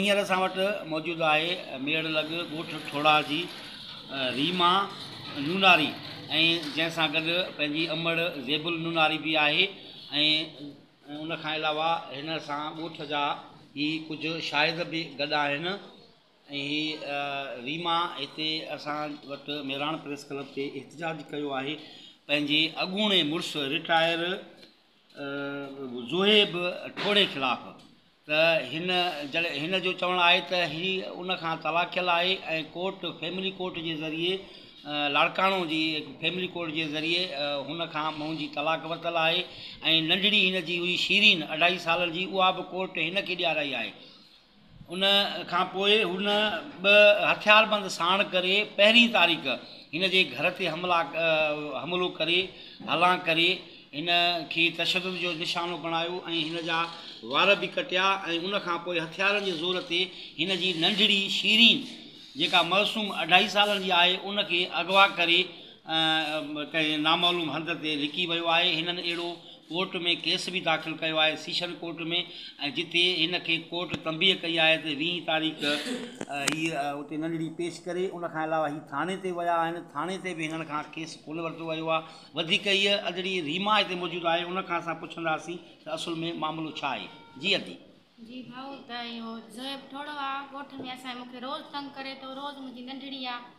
هينئر اسان وٽ موجود آهي ميڙ لڳ ڳوٺ ٺوڙهه جي ريما نوناري ۽ جنهن سان گڏ پنهنجي امڙ زيبل نوناري به آهي ۽ ان کان علاوه هن سان ڳوٺ جا هي ڪجهه شاهد به گڏ آهن ۽ هي ريما هتي اسان وٽ ميراڻ پريس ڪلب تي احتجاج ڪيو آهي پنهنجي اڳوڻي مڙس رٽائر زوهيب ٺوڙهي خلاف ته هن جڏهن هن جو چوڻ آهي ته هي ان کان طلاق ٿيل آهي ۽ ڪورٽ فيملي ڪورٽ جي ذريعي لاڙڪاڻو جي فيملي ڪورٽ جي ذريعي هن کان منهنجي طلاق ورتل آهي ۽ ننڍڙي هن جي هئي شيرين اڍائي سالن جي اها به ڪورٽ هن کي ڏيارائي آهي ان کان پوء هن ٻه هٿياربند ساڻ ڪري پهرين تاريخ هن جي گهر تي حملا حملو ڪري هلان ڪري هن کي تشدد جو نشانو بڻايو ۽ هن جا وار به ڪٽيا ۽ ان کان پوء هٿيارن جي زور تي هن جي ننڍڙي شيرين جيڪا معصوم اڍائي سالن جي آهي ان کي اغوا ڪري ڪنهن نامعلوم هنڌ تي لڪي ويو آهي هنن اهڙو ڪورٽ ۾ ڪيس به داخل ڪيو آهي سيشن ڪورٽ ۾ ۽ جتي هن کي ڪورٽ تنبيهه ڪئي آهي ته ويهين تاريخ هي اتي ننڍڙي پيش ڪري ان کان علاوه هي ٿاڻي تي ويا آهن ٿاڻي تي به هنن کان ڪيس ڪونه ورتو ويو آهي وڌيڪ هيء ادڙي ريما هتي موجود آهي ان کان اسان پڇنداسين ته اصل ۾ معاملو ڇا آهي جي ادي جي ڀائو ته اهو زويب ٺوڙهو آ ڳوٺ ۾ اسان مونکي روز تنگ ڪري ٿو روز منهنجي ننڍڙي آ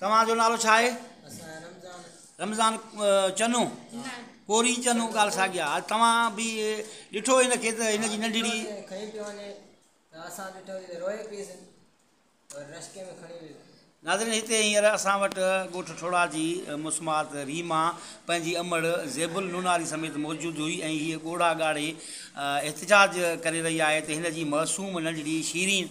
توهان جو نالو ڇا آهي رمضان چنو ڪوري چنو ڳالهه ساڳي آهي اڄ توهان به ڏٺو هن کي ته هن جي ننڍڙي کئي پيو وڃي اسان ڏٺو ته روئي پيس ۽ رشڪي ۾ کڻي ويو ناظرين هتي هينئر اسان وٽ ڳوٺ ٺوڙها جي مسمات ريما پنهنجي امڙ زيب النوناري سميت موجود هئي ۽ هيء ڳوڙها ڳاڙي احتجاج ڪري رهي آهي ته هن جي معصوم ننڍڙي شيرين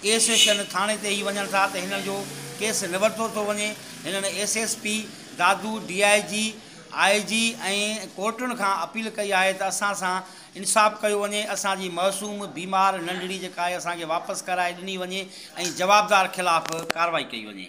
اي سيشن ٿاڻي تي ئي وڃڻ سان ته هنن جو ڪيس نبڙتو ٿو وڃي، هنن S S P, Dadu, D I G, I G ۽ ڪورٽن کان اپيل ڪئي آهي ته اسان سان انصاف ڪيو وڃي، اسان جي معصوم بيمار ننڍڙي جيڪا آهي اسان کي واپس ڪرائي ڏني وڃي ۽ جوابدار خلاف ڪارروائي ڪئي وڃي.